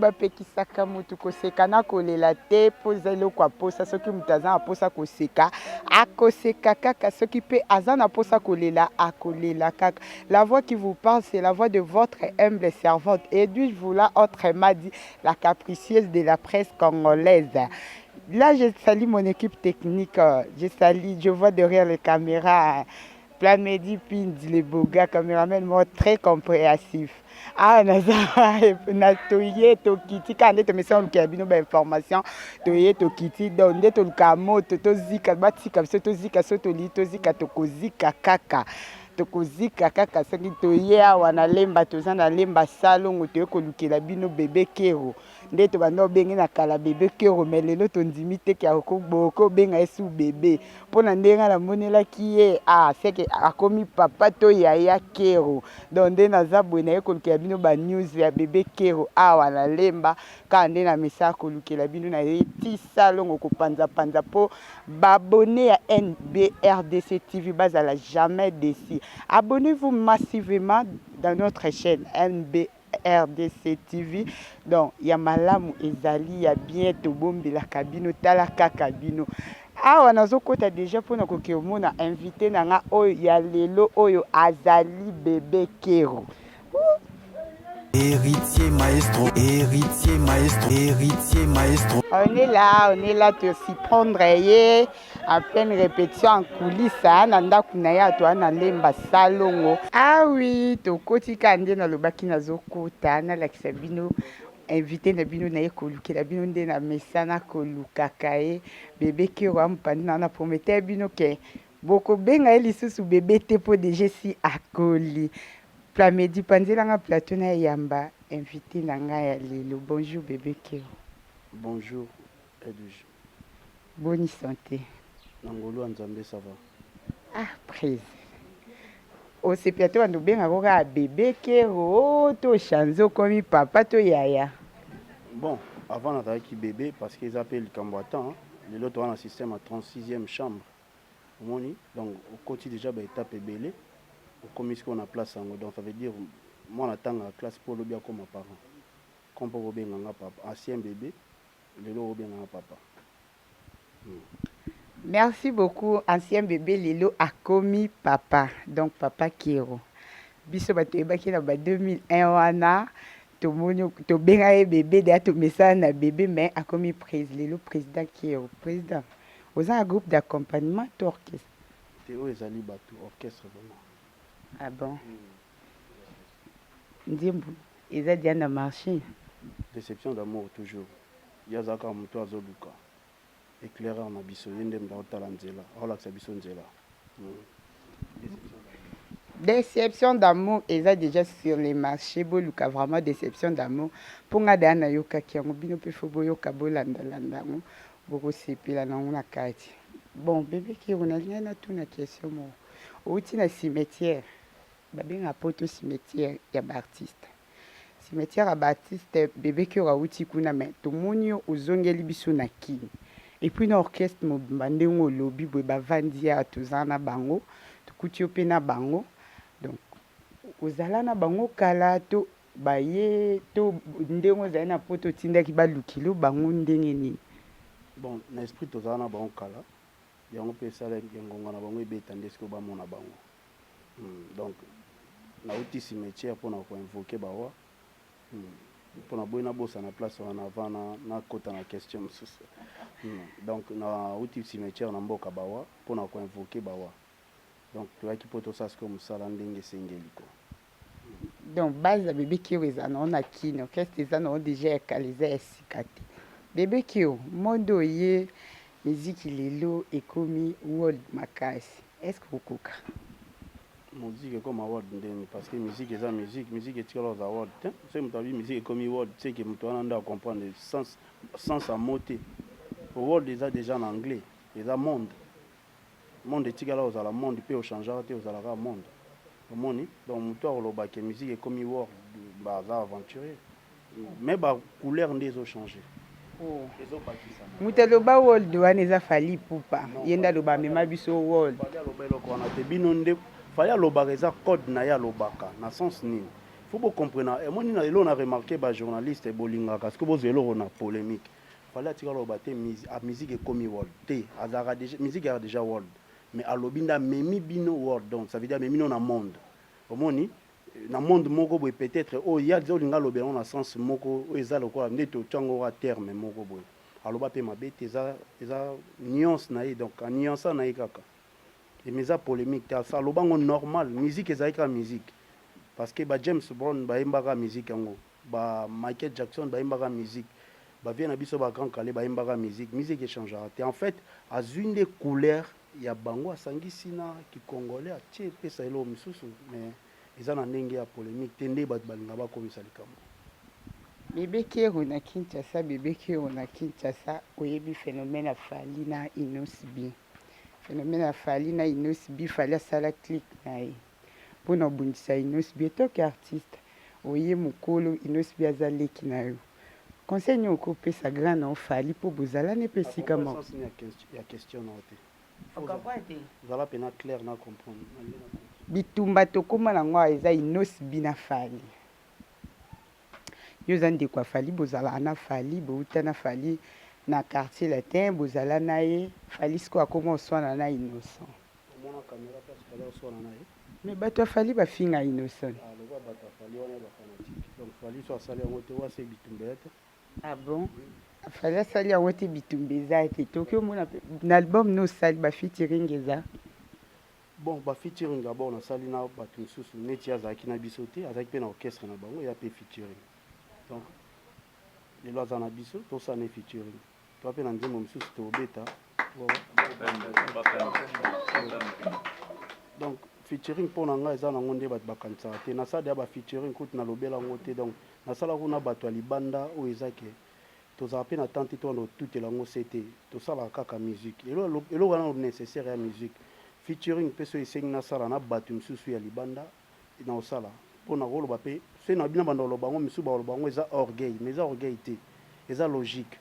bapekisaka motu koseka na kolela te mpo eza eloko ya mposa soki moto aza na mposa koseka akoseka kaka soki mpe aza na mposa kolela akolela kaka La voix qui vous parle c'est la voix de votre humble servante Edwige Vula autrement dit la capricieuse de la presse congolaise. Là je salue mon équipe technique, je salue, je vois derrière les caméras Plamedi Pindi le beau gars cameraman moko très compréhensif. awa naza na toye tokiti kaka nde tomesana olukela bino bainformation toye tokiti donc nde toluka moto tozika batika biso tozika so tolii tozika tokozika kaka Tokozika kaka soki toye awa na lemba toza na lemba salongo toye kolukela bino bebe kero nde tobanda obenge na kala bebe kero me lelo tondimi te ke boke obenga ye su bebe mpo na ndenge nga namonelaki ye a ah, seke akomi papa to yaya kero donc nde naza boye naye kolukela bino ba news ya bebe kero awa na lemba Kaka nde na message kolukela bino na ye ti salongo ko panza panza po ba abonnes ya NBRDC TV bazala jamais deçu. Abonnez vous massivement dans notre chaine NBRDC TV donc ya malamu ezali ya bien tobombelaka bino tala kaka bino. Awa nazo kota dejà pona koke omona invite na nga oyo ya lelo oyo azali bebe kero. Héritier maestro, héritier maestro, héritier maestro. On est là, on est là te surprendre ye à pleine répétition en coulisses hein, na ndako na ye ato ana lemba salongo. Ah oui, tokoti ka nde nalobaki nazokota nalakisa bino invité na bino naye kolukela bino nde na mesana kolukaka ye bebe kero ampandi na na prometteur bino ke bokobenga ye lisusu bebe te mpo deja si akoli Plamedi panzela nga plateau na yamba invite na nga ya lelo bonjour bebe keo. Bonjour edwige. Boni sante. Na ngolu ya nzambe ça va. Ah prise osepela to banda obengaka oyo kaka bebe kero to chanze okomi papa to yaya bon avant nazalaki bebe parce que eza mpe likambo ya temps lelo toza na système ya 36e chambre omoni donc okoti dejà ba etape ebele okomi sikoyo na place yango donc ça veut dire mwana atangaka classe mpo lobi akoma parent comme mpo bobenga nga papa ancien bebe lelo obenga nga papa hmm. merci beaucoup ancien bebe lelo akomi papa donc papa kero biso bato toyebaki na ba 2001 wana tomoni tobenga ye bebe deya tomesana na bebe mais akomi prise lelo président kero président Oza na groupe d'accompagnement to orchestre? Te oyo ezali batu orchestre vraiment. Ah bon? Nzembo eza dejà na marche? Deception d'amour toujours ye aza kaka mutu azo luka eclaireur na biso ye nde mutu azo tala nzela azo lakisa biso nzela deception Deception d'amour eza dejà sur le marche boluka vraiment deception d'amour po nga dejà nayokaki yango bino pe faut boyoka bolanda landa yango Boko sepela nango na kati. Bon bebe kiro nalingai natuna question moko owuti na cimetière babengaka poto cimetière ya ba artiste cimetière ya ba artiste bebe kiro awuti kuna mais tomoni yo ozongeli biso na kin epuis na orchestre mobimba ndenge olobi boye bavandi awa toza na bango tokuti yo pe na bango donc ozala na bango kala to Baye to ndenge ozali na poto otindaki ba lukilu bango ndenge nini? Bon na esprit tozalaka na bango kala yango pe esala ke ngonga na bango ebeta nde sikoyo bamona bango hum donc nawuti cimetière pona ko invoquer ba oa hum po naboyi nabosana place wana avant na nakota na question mosusu hum donc nawuti cimetière na mboka ba oa pona ko invoquer ba oa Donc toyaki po tosala sikoyo mosala ndenge esengeli ko. Donc base ya bebe kio eza nao na kin orchestre eza nao deja ya kala eza ya sika te bebe kio monde oye miziki lelo ekomi world makasi est-ce que okoka moziki ekoma world ndeni parce que miziki eza miziki miziki etikala oza world te soki moto abi miziki ekomi world seke moto wana nde acomprendre sens ya mo te world eza deja na anglais eza monde Monde etikala kozala monde mpe o changeaka te ozala kaka monde omoni donc mutu akoloba ke musique ekomi world ba aza aventurier mais ba couleur nde ezo changer ezo bakisama. Mutu aloba world wana eza Fally Ipupa ye nde aloba amema biso world. Fally aloba eloko wana te bino nde Fally alobaka eza code na ye alobaka na sens nini faut bo comprena omoni na lelo na remarquer ba journaliste bolingaka ce que bozwa eloko na polemique Fally atika aloba te musique ekomi world te azalaka dejà musique ezalaka dejà world mais alobi nde amemi bino world donc ça veut dire amemi no na monde omoni na monde moko boye peut-être oyo ye aza olinga alobela yango na sens moko oyo eza lokola nde totya yango kaka terme moko boye aloba mpe mabe te eza eza nuance na ye donc anuansa na ye kaka eme eza polemique te aloba yango normal musique ezalaki kaka musique parce que ba James Brown bayembaka musique yango Ba Michael Jackson ba yembaka musique, ba vieux na biso ba grand kalle ba yembaka musique, musique e changeaka te. En fait azui nde couleur ya bango asangisi na ki congolais atie epesa eloko misusu mais eza na ndenge ya polemique te nde batu balinga ba komisa likambo. Bebe Kero na Kinshasa Bebe Kero na Kinshasa Oyebi phenomène ya Fally na Innoss'B Phenomène ya Fally na Innoss'B Fally asala click na ye. pona obundisa innosb en tant que artiste oye mukolo innosb aza leki na yo conseil nini oko pesa grand na yo fally po bozala nepe esika moko. Bitumba tokoma na ngo awa eza innosb na fally yo oza ndeko ya fally bozalaka na fally bowuta na fally na quartier latin bozala naye fally sikoyo akoma oswana na innossant. Mais bato ya Fally bafinga Innoson. Ah bon? Fally asali yango te bitumba eza te. Toki omona pe na album no sali ba featuring eza. Bon, ba featuring d'abord nasali na bato mosusu neti azalaki na biso te, azalaki pe na orchestre na bango ya pe featuring. Donc lelo aza na biso tosala na featuring. Toi pe na nzembo mosusu tobeta. Donc featuring mpo na ngai eza nango nde bato bakanisaka te nasala ya ba featuring kutu nalobela yango te donc nasala kuna bato ya libanda oyo eza ke tozala mpe na temps te towana otutela yango se te tosalaka kaka musique eloko wana nécessaire ya musique featuring mpe so esengi nasala na bato mosusu ya libanda nakosala po nakoloba pe soki nalobi na banda koloba yango misusu bakoloba yango eza orgueil mais eza orgueil te eza logique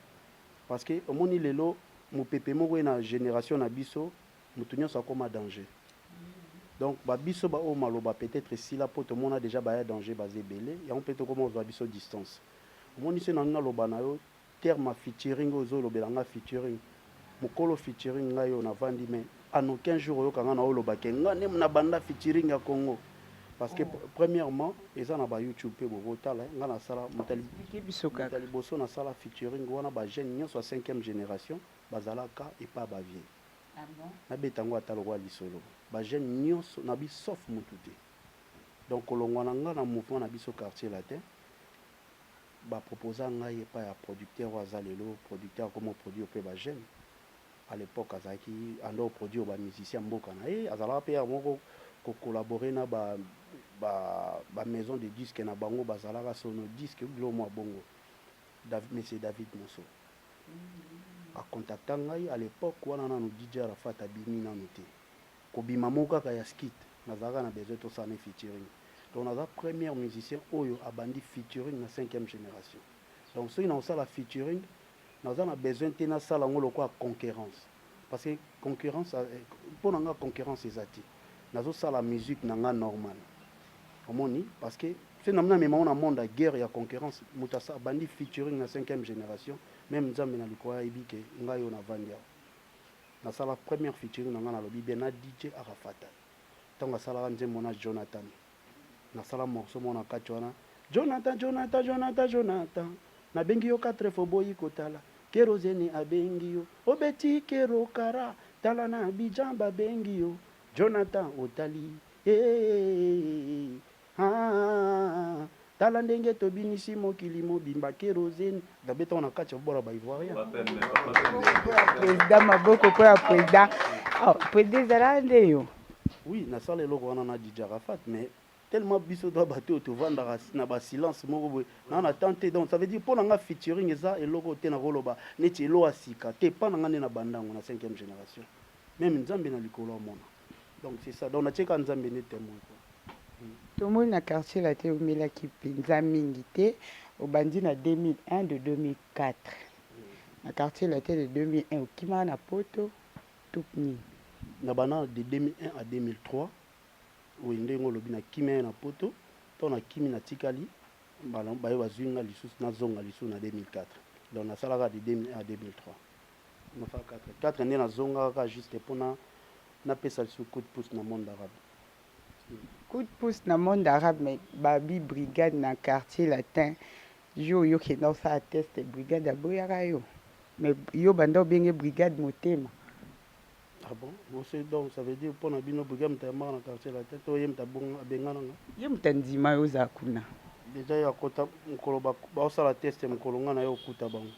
parce que omoni lelo mupepe moko eye na generation na biso mutu nionso akoma danger donc ba biso ba oyo maloba peut etre esila po tomona dejà ba ya danger baza ebele yango pe tokoma kozua biso distance omoni soki nalobi naloba na yo Terme featuring oyo ozo lobela nga featuring mukolo featuring ngai oyo na vandi mais en aucun jour oyoka nga nao loba ke nga nde na banda featuring ya congo parce que premièrement eza na ba youtube pe boko tala eh nga na sala moto ya liboso na sala featuring wana ba jeunes nionso ya cinquième generation ba zala ka epa ba vieux na beta ngo ata lokola lisolo ba jeunes nionso na bi sauf mutu te donc kolongua na nga na mouvement na biso quartier latin ba proposa ngai epai ya producteur oyo aza lelo producteur akomi ko produire pe ba jeunes a l'epoque azalaki ando ko produire ba musiciens ya mboka na ye azalaka pe ya moko ko collaborer na ba ba maison de disque na bango bazalaka sono disque bilo mua bongo David monsieur David Mosso a contacta ngai a l'epoque wana nanu DJ Arafat abimi nanu te Kobima moko kaka ya skit nazalaka na besoin tosala naye featuring donc naza première musicien oyo abandi featuring na cinquième generation donc soki nakosala featuring naza na besoin te nasala yango lokola conquerence parce que concurrence mpo na nga concurrence eza te nazosala musique na nga normal omoni parce que se namina mema ona monde ya guerre ya concurrence moto abandi featuring na cinquième generation meme nzambe na likolo ayebi ke ngai oyo navandi awa Nasala première featuring na nga nalobi bien na DJ Arafata tango asalaka nzembo na Jonathan nasala morceau moko na kati wana Jonathan Jonathan Jonathan Jonathan nabengi yo quatre fois oboyi kotala kerozene abengi yo obeti kero kara tala na Abidjan babengi yo Jonathan otali eh, eh, eh, eh, eh. Haahahahahah tala ndenge tobinisi mokili mobimba kerosene gabe tango na kati ya bora ba ivoirien President maboko mpo ya president. Oh, president ezalaka nde yo. oui nasala eloko wana na dj arafat mais tellement biso toza bato oyo tovandaka si- na ba silence moko boye na na temps te donc ça veut dire mpo na nga featuring eza eloko oyo te nakoloba neti elo ya sika te epa na nga nde na bandango na 5e génération meme nzambe na likolo amona Donc c'est ça. Donc na tieka Nzambe ne temoin quoi. Tomoni na quartier latin omelaki mpenza mingi te, obandi na 2001 de 2004 na quartier latin de 2001 okimaka na poto to nini? Na bana de 2001 à 2003 oyo ndenge olobi na kimia ye na poto to na kimi na tikali baye bazwi nga lisusu nazonga lisusu na 2004 donc nasalaka de 2001 à 2003 na fa 4 4 nde nazongaka kaka juste mpo na napesa lisusu coup de pouce na monde arabe. Coup de pouce na monde arabe mais babi brigade na quartier latin yo yo kenda osala test brigade aboyaka yo mais yo banda obenge brigade motema. Ah bon ose donc ça veut dire mpo na bino brigade moto ayambaka na quartier latin to ye moto abengana nga ye moto andima yo oza kuna deja ye akota mokolo baosala test mokolo nga na yo okuta bango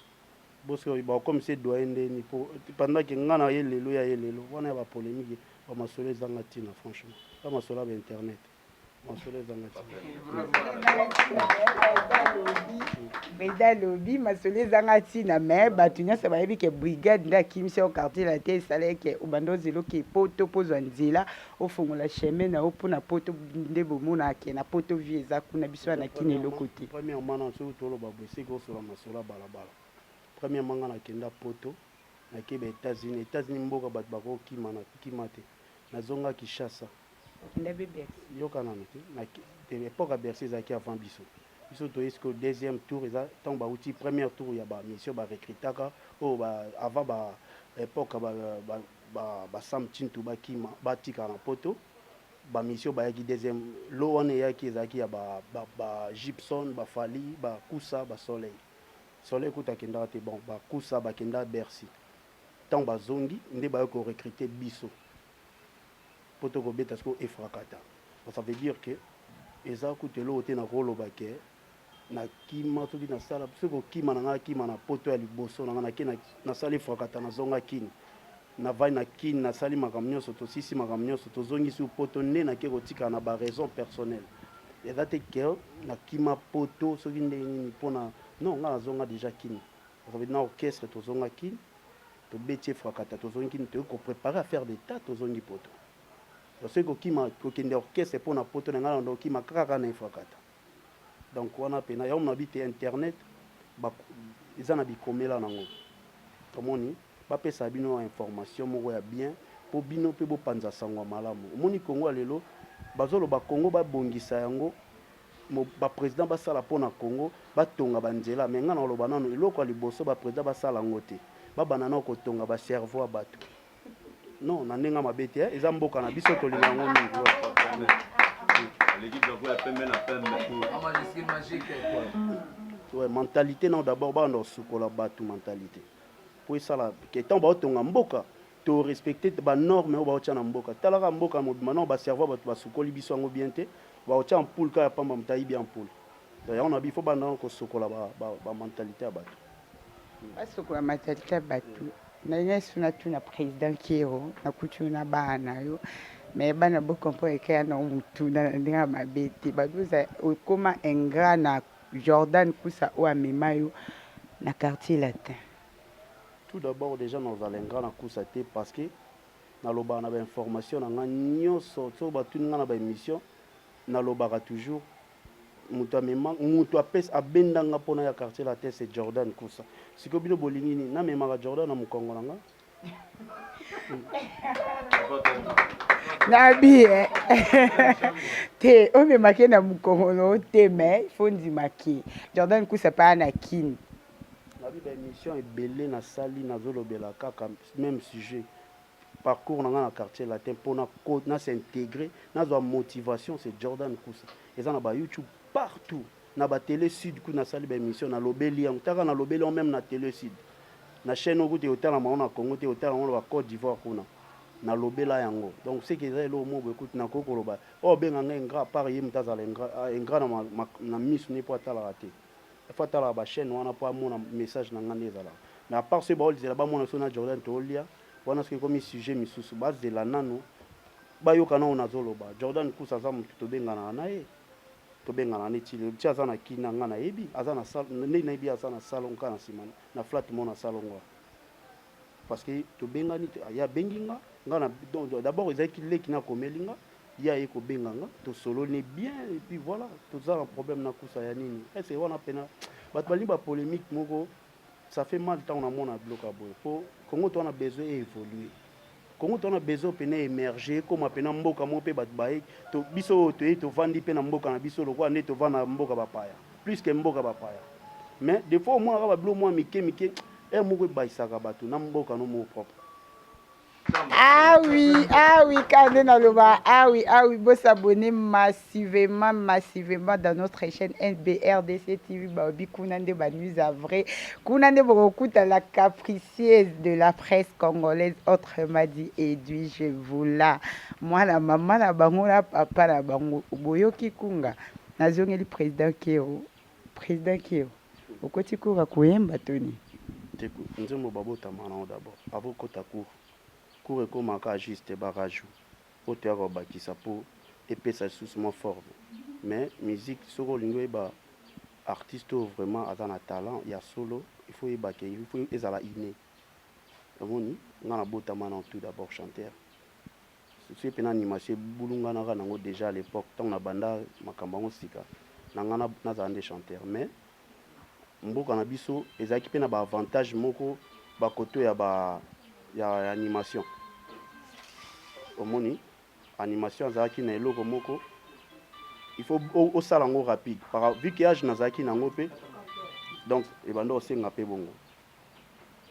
Bosque oyo bakokomisa ye doyen ndeni po pendant que nga na ye lelo ya ye lelo wana ya ba polemique ba masolo ezanga tina franchement ba masolo ya ba internet masolo ezanga beda lobi masolo ezanga ntina me bato nyonso bayebi ke brigade nde akimisi yo quartier latin esala eke obanda ozela oke poto mpo ozwa nzela Ofongola chemin na yo pona poto nde bomona que na poto vie eza kuna biso awa na kin eloko te. Premièrement nanu soki toloba boye seke osola masolo ya balabala premièrement nga na kenda poto na ke ba etats unis etats unis mboka batu bako kima na kima te na zonga kishasa Okenda be bercy. yoka nanu te na te epoque ya bercy ezalaki avant biso biso toye sikoyo deuxième tour eza tango ba wuti première tour ya ba mission ba recrutaka oyo ba avant ba epoque ya ba Ba ba Sam tshintu ba kima ba tika na poto ba misio ba yaki deuxième lot wana eyaki ezalaki ya ba ba ba Gibson ba Fally ba Kusa ba Soleil Soleil kutu akendaka te bon ba Kusa ba kenda Bercy tango ba zongi nde ba yaki ko recruter biso po to ko beta sikoyo Efrakata donc ça veut dire que eza kutu eloko te na ko loba que na kima soki na sala soki kokima na nga na kima na poto ya liboso na nga na kina na sali frakata na zonga kini na vai na kini na sali makambo nyonso tosisi makambo nyonso tozongisi poto nde na ke kotika na ba raison personnel eza te ke na kima poto soki ndenge nini pona non nga na zonga deja kini na orchestre tozonga kini tobeti efrakata tozongi kini toyei koprepare affaire d'etat tozongi poto soki kokima kokende orchestre mpo na poto na ngai na ndokima kaka na efrakata Donc wana pena yango muna bite internet ba eza na bikomela nango omoni bapesa bino information moko ya bien po bino pe bopanza sango ya malamu omoni kongo ya lelo bazoloba kongo babongisa yango ba president basala mpo na congo batonga banzela me ngai na koloba nano eloko ya liboso ba president basala yango te babanda nao kotonga ba cerveau ya bato Non, na ndenge mabe te, eh. eza mboka na biso tolinga yango mingi. Aleki drapeau ya pembe na pembe. Ouais, mentalité non d'abord ba ndo sukola batu mentalité. Po esala que tant ba otonga mboka to respecter ba normes oyo ba otya na mboka. Talaka mboka mobima non ba cerveau batu ba sukoli biso yango bien te. Ba otya en poule ka ya pamba mutayi bien en poule. Donc yango na bifo ba ndo ko sukola ba, ba, ba mentalité ya batu. Basoko ya matalita batu nayesu na tuna president kiero na kutu na bana na yo mais bana bo comprendre ke yana mutuna na ndenge ya mabe te bazoza okoma ingrat na Jordan kusa oyo amema yo na quartier latin tout d'abord dejà na ozala ingrat na kusa te parce que na lobaka na ba information na nga nioso soki batuni nga na ba emission na lobaka toujours mutu amema mutu apesa abenda nga pona ya quartier latin c'est Jordan Kusa siko bino bolingi nini namemaka Jordan na mukongo na nga nabi eh. te omemake na mukongo na yo te mais faut ndima ke Jordan Kusa paa na kini nabi ba émission ebele nasali nazolobela kaka même sujet parcours na nga na quartier latin pona ko na s'integrer na zwa motivation c'est Jordan Kusa eza na ba YouTube partout na ba tele sud kutu na sali ba emission na lobeli yango taka na lobeli yango meme na tele sud na chaîne oyo kutu etalama ngo na Congo te otala ngo na ba Cote d'Ivoire kuna na lobela yango donc ce que eza eloko moko boye kutu na ko koloba oh benga nga ingrat par ye mutu azala ingrat ah, ingrat na ma, ma, na misu ne po atalaka te il faut atalaka ba chaîne wana po amona message na nga nde ezalaka mais à part ce baolizela bamona so na Jordan tolia Wana soki ekomi sujet misusu bazela nanu bayoka nao nazoloba. Jordan Kusa aza mutu tobenganaka na ye tobenganaka ne ti lelo ti aza na kina nga nayebi aza na sal nde nayebi ye aza na salon kaka na nsima na flat mo na salon ngo parce que tobengani ye abengi nga nga na d'abord ezalaki leki na komeli nga ye aye kobenga nga tosololi bien et puis voilà toza na problème na kusa ya nini ese wana mpena bato balingi bapolémique moko Ça fait mal tango na mona biloko ya boye po Congo toza na besoin e evoluer. Congo toza na besoin pena e emerger ekoma pena mboka moko pe bato baye to biso oyo toye tovandi pe na mboka na biso lokola nde tovanda na mboka bapaya plus que mboka bapaya mais des fois omonaka ba biloko mwa mike mike heure moko ebayisaka bato na mboka no moko propre. awi awi kaka nde naloba awi awi bosabone massivement massivement dans notre chaîne nbrdc tv baobi kuna nde banews a vrai kuna nde bokokuta la capricieuse de la presse congolaise autrement dit edui je voula mwana mama na bango na papa na bango boyoki kunga nazongeli président keo président keo Okoti cour ya koyemba to nini? Te nzembo ba botama nango d'abord avant okota cour. Cour ekomaka kaka juste ba rajout oyo toyaka kobakisa po epesa lisusu mwa forme mais musique soki olingi oyeba artiste oyo vraiment aza na talent ya solo il faut oyeba ke il faut ezala inne omoni nga na botama nano tout d'abord chanteur. Souci mpe na animation ebulunganaka nango dejà à l'epoque tango na banda makambo yango sika na nga nazala nde chanteur mais mboka na biso ezalaki mpe na ba avantage moko ba koto ya ba ya animation omoni animation azalaki na eloko moko il faut osala yango rapide par vu que age nazalaki nango mpe donc ebanda osenga mpe bongo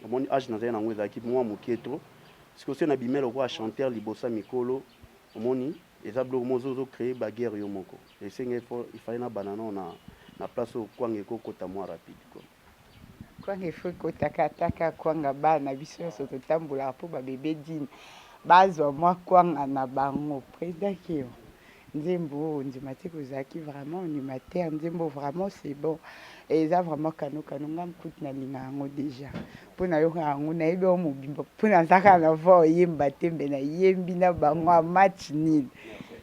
omoni age nazali nango ezalaki mwa moke trop sikoyo soki nabimela lokola chanteur liboso ya mikolo omoni eza biloko moko ozo ozo cree ba guerre yo moko esenga il faut il fallait nabanda nao na na place oyo kwanga ekokota mwa rapide quoi kwanga il faut ekotaka ataka kwanga bana biso nyonso totambolaka mpo babebe dine bazwa mwa kwanga na bango president keo Nzembo oyo ndima te kozalaki vraiment animateur nzembo vraiment c'est bon eza vraiment kano kano nga mkutu nalinga yango déjà mpo nayoka yango nayebi yango mobimba mpo naza kaka na voi oyemba te mbe nayembi na bango a match nil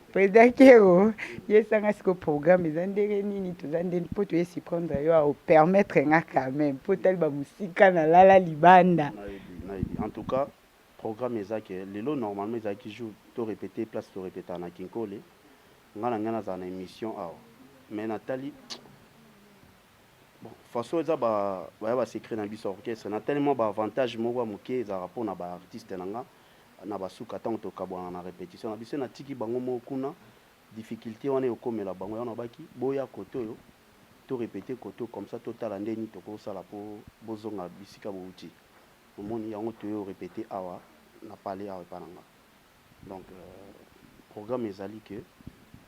mpo ezaki o yesanga siko programme eza ndenge nini toza nde mpo toye siprendre yo aopermettre nga quand même mpo otali bamosika nalala libanda en tout cas Programme eza que lelo normalement ezalaki jour to repeter place to repetaka na kinkole nga na ngai nazala na emission awa mais na tali bon façon eza ba baya ba secret na biso orchestre na tali mwa ba avantage moko ya moke ezalaka mpo na ba artiste na nga na basuka ntango tokabwana na repetition na biso na tiki bango moko kuna difficulte wana ekokomela bango yango nabaki boya kote oyo to repeter kote comme ça totala nde nini tokosala mpo bozonga bisika bowuti Omoni yango toye o repeter awa na palais awa epa na nga donc programme ezali que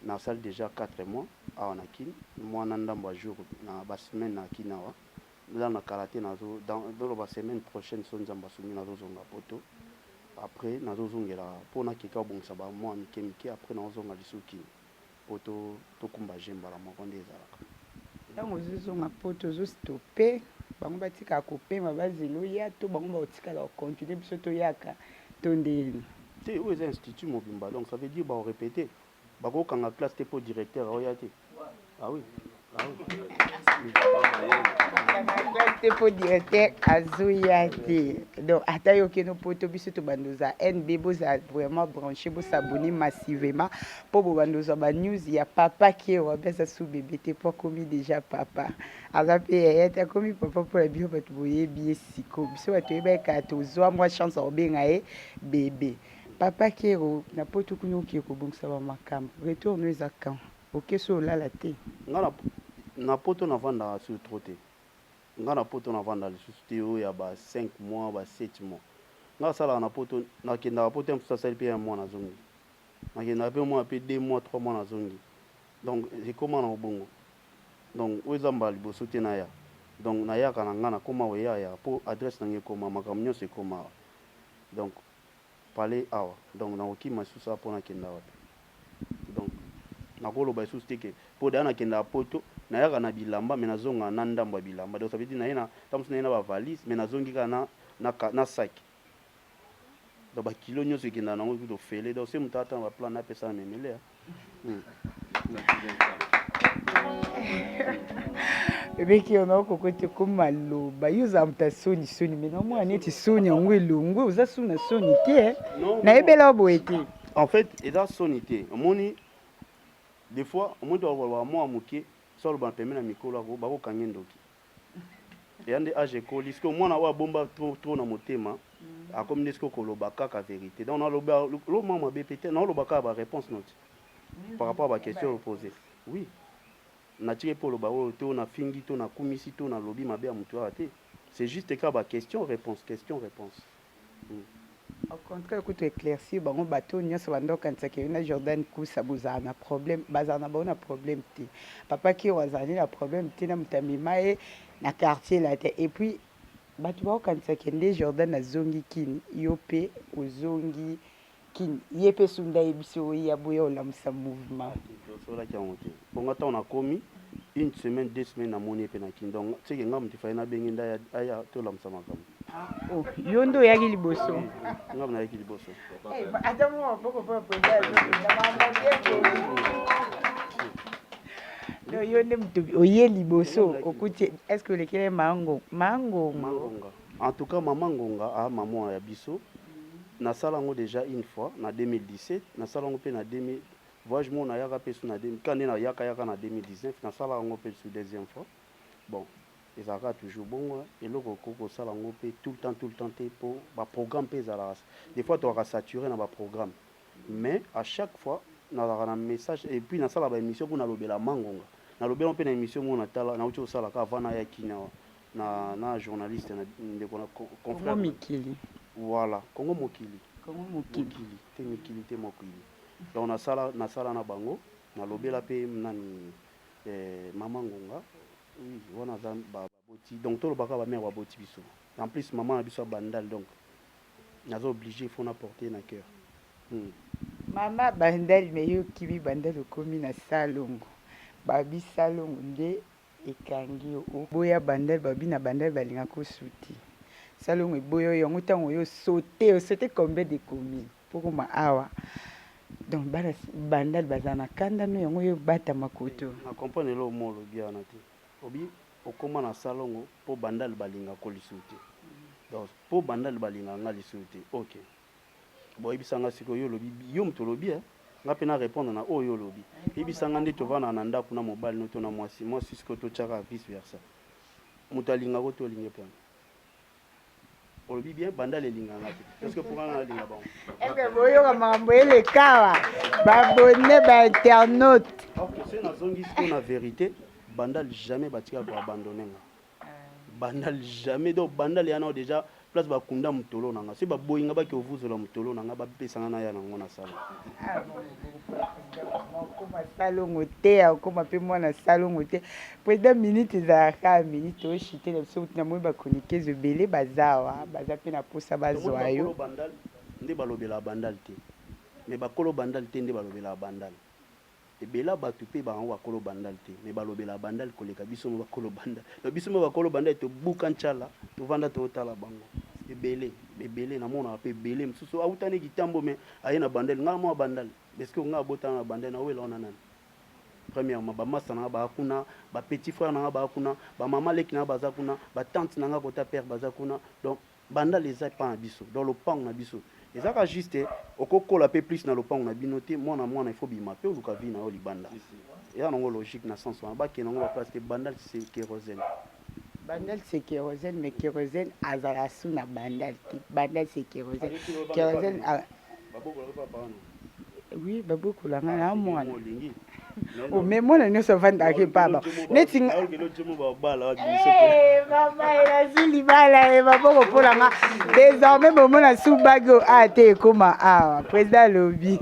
na sali dejà quatre mois awa na kin mua na ndambu ya jour na ba semaine na kin awa eza na kala te nazo loba semaine prochaine soki nzambe asungi nazo zonga poto après nazo zongela po na keka ko bongisa ba mua mike mike après nao zonga lisusu kin Poto to kumba jeux mbala moko nde ezalaka. Tango ozo zonga poto ozo stopper bango batika ko pema ba zela oya to bango bako tikala ko continuer biso to yaka to ndeni? Te oyo eza institut mobimba donc ça veut dire bako repeter? Bako kanga classe te po directeur aoya te? Ah oui. te mpo directeur azoya te donc ata yo okeno poto biso tobanda oza nb boza vraiment branché bosabone massivement mpo bobanda ozwa banews ya papa kewa mpe aza su bebe te mpo akomi déjà papa aza mpe yaya te akomi papa mpo na bino bato boyebi ye siko biso bato oyebaki kaka tozwa mwa chance ya kobenga ye bebe papa kero na poto kuna okee kobongisa bamakambo retour no eza quand Okesi oyo olala te. Nga na na poto na vandaka sur trop te nga na poto na vandaka lisusu te oyo ya ba cinq mois ba sept mois nga na salaka na poto na kendaka poto ya mosusu asali pe un mois na zongi na kendaka pe mwana pe deux mois trois mois na zongi donc ekoma na ngo bongo donc oyo eza mbala liboso te na ya donc na yaka na nga na koma ko ya ya po adresse na nga ekoma makambo nionso ekomaka donc palais awa donc nako kima lisusu awa po na kenda wapi donc nako loba lisusu te que po dejà na kendaka poto na yaka na bilamba mais na zongaka na ndambu ya bilamba donc ça veut dire na ye na tango mosusu na ye na ba valise mais na zongi kaka na na na sac donc ba kilos nioso ekendaka nango kutu ofele donc se mutu ata na ba plan na ye apesa na memelea. ebeki yo nao koko te koma loba yo oza moto ya soni soni me naomona neti soni yango elongwe oza soni na soni te eh. nayebela yo boye te en fait eza soni te omoni des fois omoni tokoloba mwa moke so aloba pembe na mikolo ako bakokange ndoki Dejà nde age ekoli sikoyo mwana oyo abomba trop trop na motema akomi nde sikoyo koloba kaka verite donc naloba eloko moko mabe pe te naoloba kaka ba reponse noti par rapport ya ba question oyo pose oui natiki epe oloba oyo to nafingi to nakumisi to nalobi mabe ya mutu awa te c'est juste kaka ba question reponse question reponse Au contraire kutu eclaircir bango batu oyo nionso banda kokanisa que yo na Jordan Kusa bozala na problème bazala na bango na problème te papa Kiew azala nde na problème te na mutu amema ye na quartier là te et puis batu bakokanisa que nde Jordan azongi kin yo pe ozongi Kin ye pe sunda ayebisi yo oya boya olamusa mouvement. Nasololaki yango te po nga tango nakomi une semaine deux semaines namoni ye pe na kin donc ce que nga mutu il fallait nabenge nde aya tolamusa makambo. Ah oh yo nde oyaki liboso? Oui nga pe nayaki liboso. Eh ata mua maboko po ya president ya nzoto na makambo bien te. Non yo nde mutu oye liboso okuti est ce que olekeli ye mango mangongo? En tout cas maman ngonga a maman ya biso na sala yango dejà une fois na 2017 na sala yango pe na 2000 voyage moko na yaka pe su na 2000 kani na yaka yaka na 2019 na sala yango pe su deuxième fois bon ezalaka toujours bongo eloko okoki kosala yango pe tout le temps tout le temps te po ba programme pe ezalaka des fois tokaka sature na ba programme mais à chaque fois nazalaka na message et puis nasala ba émission kuna lobela mangonga na lobela pe na émission moko na tala na uti kosala ka avant na ya kinawa na na journaliste na ndeko na confrère mikili voilà Congo mokili Congo mokili mokili te mikili te mokili donc na sala na sala na bango na lobela pe nani eh, maman ngonga oui wana za ba baboti donc to lobaka ba mère baboti biso en plus maman na biso ya bandal donc naza obligé faut na porter na cœur hmm. mama bandal mais yo kimi bandal okomi na salongo babi salongo nde Ekangi yo oboya bandal ba bina bandal balinga ko suti salongo eboya yo yango tango yo saute osaute combien de commune pokoma awa donc bana bandal baza na kanda no yango yo bata makoto na comprendre eloko mo olobi wana te obi okoma na salongo po bandal balinga ko lisusu te donc po bandal balinga nga lisusu te ok. Bon yebisa nga sikoyo yo olobi yo mutu olobi eh nga pe na repondre na oyo yo olobi yebisa nga nde tovandaka na ndaku na mobali no to na mwasi mwasi sikoyo totiaka vice versa mutu alinga ko to olinge pe yango olobi bien bandal elinga nga te est ce que pour nga nalinga bango eke boyoka makambo elekawa babone ba internaute ok se nazongi sikoyo na verite bandal jamais batika ko abandonne nga bandal jamais donc bandal ya nao déjà place bakunda motolo na nga soki baboyi nga bake ovuzola motolo na nga bapesa nga naya na ngo na sala okoma salongo te okoma mpe mwana salongo te président minute ezalaka minute oshite na biso kutu na moi bakonikezo ebele baza awa baza mpe na mposa bazwa yo nde balobelaka bandal te mais bakolo bandal te nde balobelaka bandal Ebela batu pe bango ba kolo bandal te mais balobelaka bandal koleka biso ma ba kolo bandal donc biso ma ba kolo bandal to buka nchala to vanda to tala bango ebele ebele na monaka pe ebele mususu awuta ne kitambo mais aye na bandal nga na mona bandal est ce que nga abota na bandal na wela wana nani premièrement ba masta na nga ba kuna ba petit frère na nga ba kuna ba maman leki na nga baza kuna ba tante na nga kota père baza kuna donc Bandal eza epa na biso donc lopangu na biso eza ka juste oko kola pe plus na lopangu na bino te muana muana il faut obima pe oluka vie na yo libanda eza nango logique na sens wana ba kende nango ba place te bandal c'est kerosene Bandal c'est kerosene mais kerosene azala sous na bandal te bandal c'est kerosene kerosene ba bokola pe papa wana oui babokola nga na mwana ome mwana nyonso avandaka epaba neti elazwi libala e maboko mpola nga désormais bomona subaki o a te ekóma awa président alobi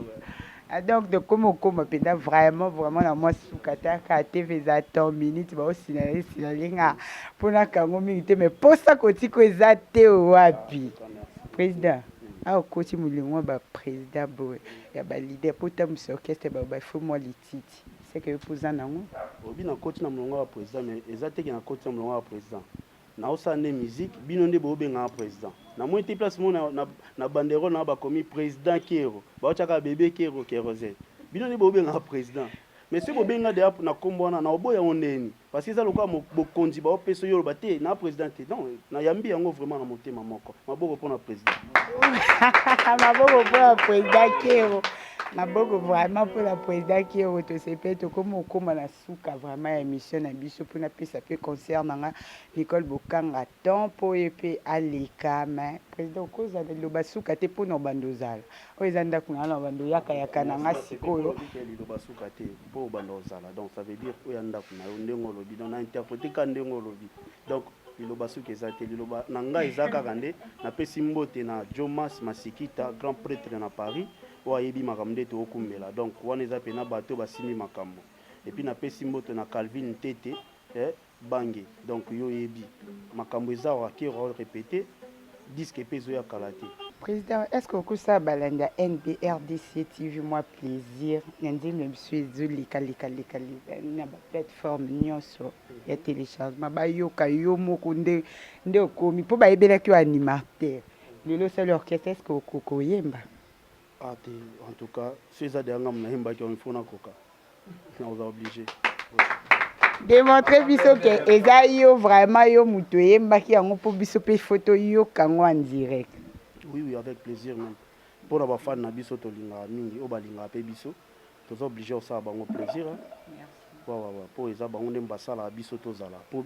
ah, donc tokómi okóma mpenza vraiment vraiment na mwa suka taka tv eza temps minute baosinala esina linga mpo nakango mingi te mais mposa kotiko eza te wapi président Awa okoti molongo ya ba president boye ya ba leader po otambwisa orchestre ba ba faut mua lititi seke yo pe oza nango? Olobi na koti na molongo ya ba president mais eza te ke na koti na molongo ya ba president nao sala nde musique bino nde bo benga nga president na moni te place moko na na banderole na nga ba komi president kero bao tia kaka bebe kero kerosene bino nde bo benga nga president mais soki bo bengi nga deja na kombo wana nao boya ngo ndenge nini? Parce que eza lokola bokonzi bao peso yo loba te na président te. Donc na yambi yango vraiment na motema moko. Maboko pona président. Maboko pona président Kero. Maboko vraiment pona président Kero to sepe to komo koma na suka vraiment ya émission na biso pona pesa pe concert na nga Nicole Bokanga temps po ye pe aleka mais président okozala loba suka te pona obanda ozala. oyo eza ndako na na bando yaka yaka na nga sikoyo liloba suka te mpo obanda ozala donc ça veut dire oya ndako na yo ndenge olobi donc na interprete ka ndenge olobi donc liloba suka eza te liloba na ngai eza kaka nde napesi mbote na jomas masikita grand pretre na paris oyo ayebi makambo nde tookumbela donc wana eza mpena bato basimbi makambo epuis napesi mbote na calvin tete eh, Bange donc yo oyebi makambu eza rockero au repete disque pe ezoya kala te. President est ce que okosala balandi ya NB rdc TV mwa plaisir na nzembo na biso ezo leka leka leka leka na ba plateforme nionso ya telechargement bayoka yo moko nde nde okomi po bayebelaki yo animateur lelo osali orchestre est ce que okoyemba Ah te, en tout cas, si eza deja nga muna yembaki on faut nakoka. Nakoza obligé. Démontre biso que eza yo vraiment yo mutu eyembaki yango po biso pe faut toyoka yango en direct. Oui oui, avec plaisir même. Pour na ba fan na biso tolingaka mingi, oyo balingaka pe biso. Toza obligé osala bango plaisir. Hein? Merci. Wa wa wa, po eza bango nde basalaka biso tozala. Po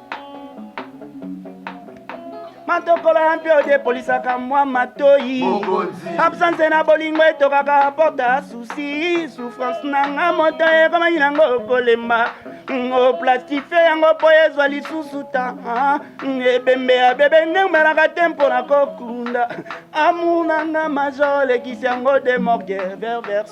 matokolo ya mpe odepolisaka mwa matoi absence na bolingo etokaka porta susi souffrance na nga moto ekomaki nango kolemba oplastife yango mpo ezwa lisusu ta ebembe ya bebe neumelaka te mpo na kokunda amour na nga majo olekisi yango de morgue ververs